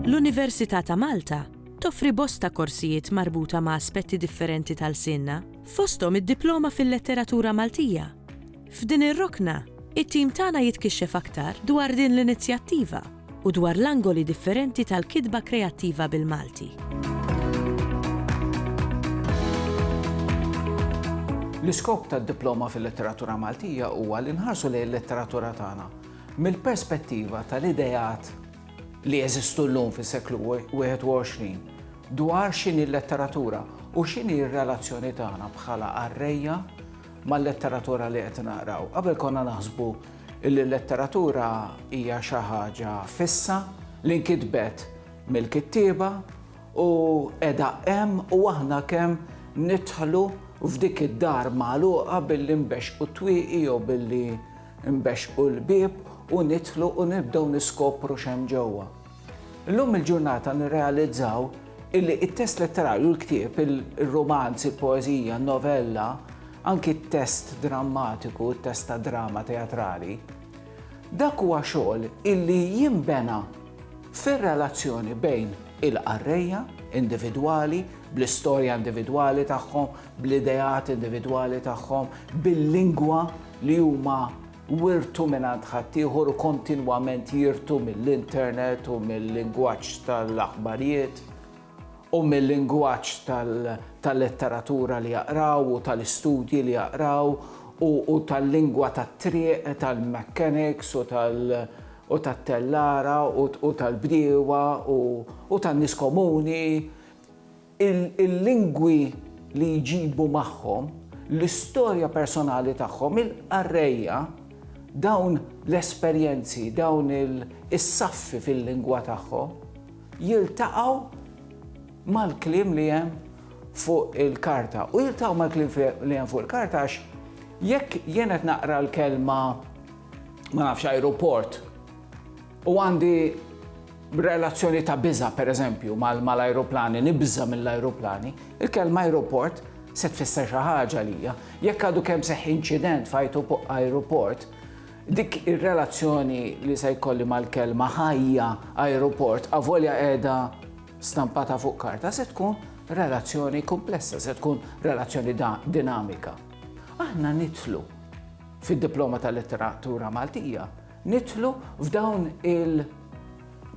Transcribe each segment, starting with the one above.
L-Università ta' Malta toffri bosta korsijiet marbuta ma' aspetti differenti ta' lsienna, fosthom id-Diploma fil-Letteratura Maltija, F'din ir-rokna, it-tim tagħna jitkixxef aktar dwar din l-inizjattiva u dwar l-angoli differenti tal-kitba kreattiva bil-Malti. L-iskop tad-Diploma fil-Letteratura Maltija huwa li nħarsu lejn il-letteratura tagħna mill-perspettiva tal-ideat li jeżistu llum fis-seklu 21 dwar x'inhi l-letteratura u x'inhi r-relazzjoni tagħna bħala qarrejja mal-letteratura li qed naqraw. Qabel konna naħsbu li l-letteratura hija xi ħaġa fissa li nkitbet mill-kittieba u qiegħda hemm u aħna kemm nidħlu f'dik id-dar magħluqa billi nbexxqu t-twieqi jew billi nbexxqu l-bieb u nidħlu u nibdew niskopru x'hemm ġewwa. Illum il-ġurnata nirrealizzaw illi it-test letterarju, l-ktieb, il-romanz, il-poeżija, n-novella, anki t-test drammatiku, t-test ta' drama teatrali, dak huwa xogħol illi jinbena fir-relazzjoni bejn il-qarrejja individwali, bl-istorja individwali tagħhom, bl-ideat individwali tagħhom, bil-lingwa li huma Wirtu mingħand ħaddieħor u kontinwament jirtu mill-internet u mil-lingwaġġ tal-aħbarijiet u mil-lingwaġġ tal-letteratura li jaqraw u tal-istudji li jaqraw u tal-lingwa tat-triq tal-mechanics u tat-tellara u tal-bdiewa u tan-nies komuni. il-lingwi li jġibu magħhom, l-istorja personali tagħhom, il-qarrejja, dawn l-esperjenzi, dawn is-saffi fil-lingwa tagħhom, jiltaqgħu mal-kliem li hemm fuq il-karta. U jiltaqgħu mal-kliem li hemm fuq il-karta għax jekk jien qed naqra l-kelma ma nafx ajruport, U għandi relazzjoni ta' biża', pereżempju, mal-ajruplani, nibża' mill-ajruplani, il-kelma ajruport se tfisser xi ħaġa għalija. Jekk għadu kemm seħħ inċident f'ajruport, dik ir-relazzjoni li se jkolli mal-kelma ħajja ajruport avolja qiegħda stampata fuq karta se tkun relazzjoni kumplessa, se tkun relazzjoni dinamika. Aħna nidħlu fid-diploma tal-letteratura Maltija nidħlu f'dawn il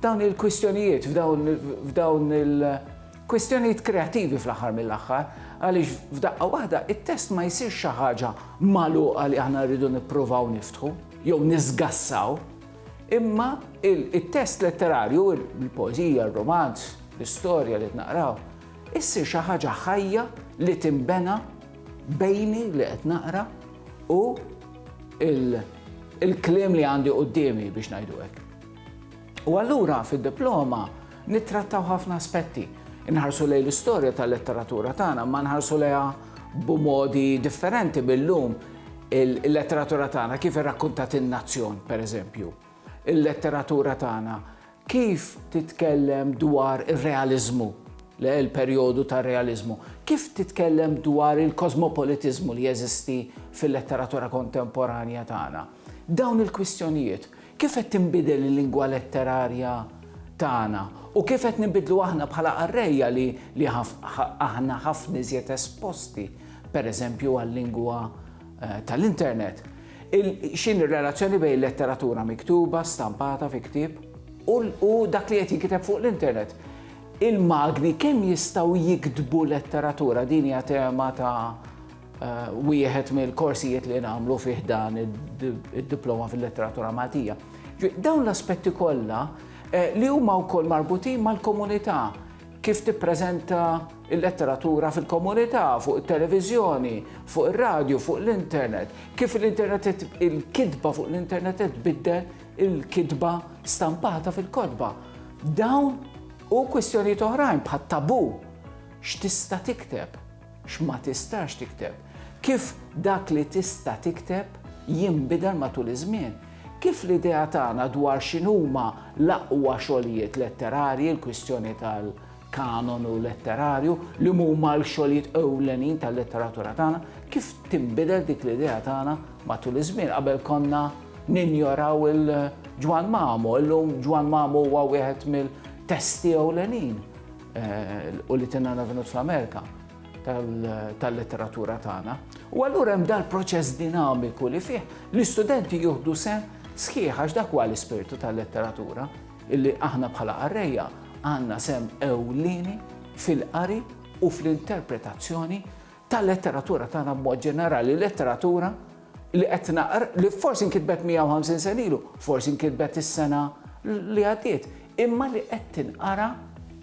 dawn il-kwistjonijiet, f'dawn il-kwistjonijiet kreativi fl-aħħar mill-aħħar, għaliex f'daqqa waħda it-test ma jsir xi ħaġa magħluqa li aħna rridu nippruvaw niftħu jew niżgassaw, imma it-test letterarju, il-poeżija, il-romanz, l-istorja li naqraw, issir xi ħaġa ħajja li timbena bejni li qed naqra u il-kliem li għandi qudiemi biex ngħidu hekk. U allura fid-diploma nittrattaw ħafna aspetti. Inħarsu lejn l-istorja tal-letteratura tagħna, ma nħarsu lejha b'modi differenti billum il-letteratura tagħna kif irrakkuntat in-nazzjon, pereżempju. Il-letteratura tagħna Kif titkellem dwar ir-realiżmu, l-perjodu tar-realiżmu? Kif titkellem dwar il-kosmopolitiżmu li jeżisti fil-letteratura kontemporanja tagħna? Dawn il-kwistjonijiet, kif qed tinbidel il-lingwa letterarja tagħna u kif qed ninbidlu aħna bħala qarrejja li aħna ħafna iżjed esposti, pereżempju, għal-lingwa tal-internet? Il, x'inhi r-relazzjoni bejn il-letteratura miktuba, stampata fi ktieb, u, u dak li qed jinkiteb fuq l-internet? Il-magni kemm jistgħu jiktbu letteratura? Din hija tema ta' eh, wieħed mill-korsijiet li nagħmlu fih dan id-diploma fil-letteratura Maltija. Dawn l-aspetti kollha eh, li huma wkoll marbutin mal-komunità kif tippreżenta il-letteratura fil-komunità, fuq it-televiżjoni, fuq ir-radju, fuq l-internet, kif l-internet il-kitba fuq l-internet qed tbiddel il-kitba stampata fil-kotba. Dawn u kwistjonijiet oħrajn bħat tabu x'tista' tikteb, x'ma tistax tikteb, kif dak li tista' tikteb jinbidel matul iż-żmien, kif l-idea tagħna dwar x'inhuma l-aqwa xogħlijiet letterarji, il-kwistjoni tal- kanonu letterarju, li huma l-xogħlijiet ewlenin tal-letteratura tagħna, kif tinbidel dik l-idea tagħna matul iż-żmien. Qabel konna ninjoraw il-Ġwann Mamu, illum Ġwann Mamu huwa wieħed mill-testi ewlenin eh, u li tinna navinut fl-Amerika tal-letteratura tagħna. U allura hemm dal-proċess dinamiku li fih l-istudenti jieħdu sen sħiħ għax dak huwa l-ispirtu tal-letteratura Illi aħna bħala qarrejja għandna sehem ewlieni fil-qari u fl-interpretazzjoni tal-letteratura tagħna b'mod ġenerali, letteratura li qed naqr li forsi nkitbet 150 sen ilu, forsi nkitbet is-sena li għaddiet, imma li qed tinqara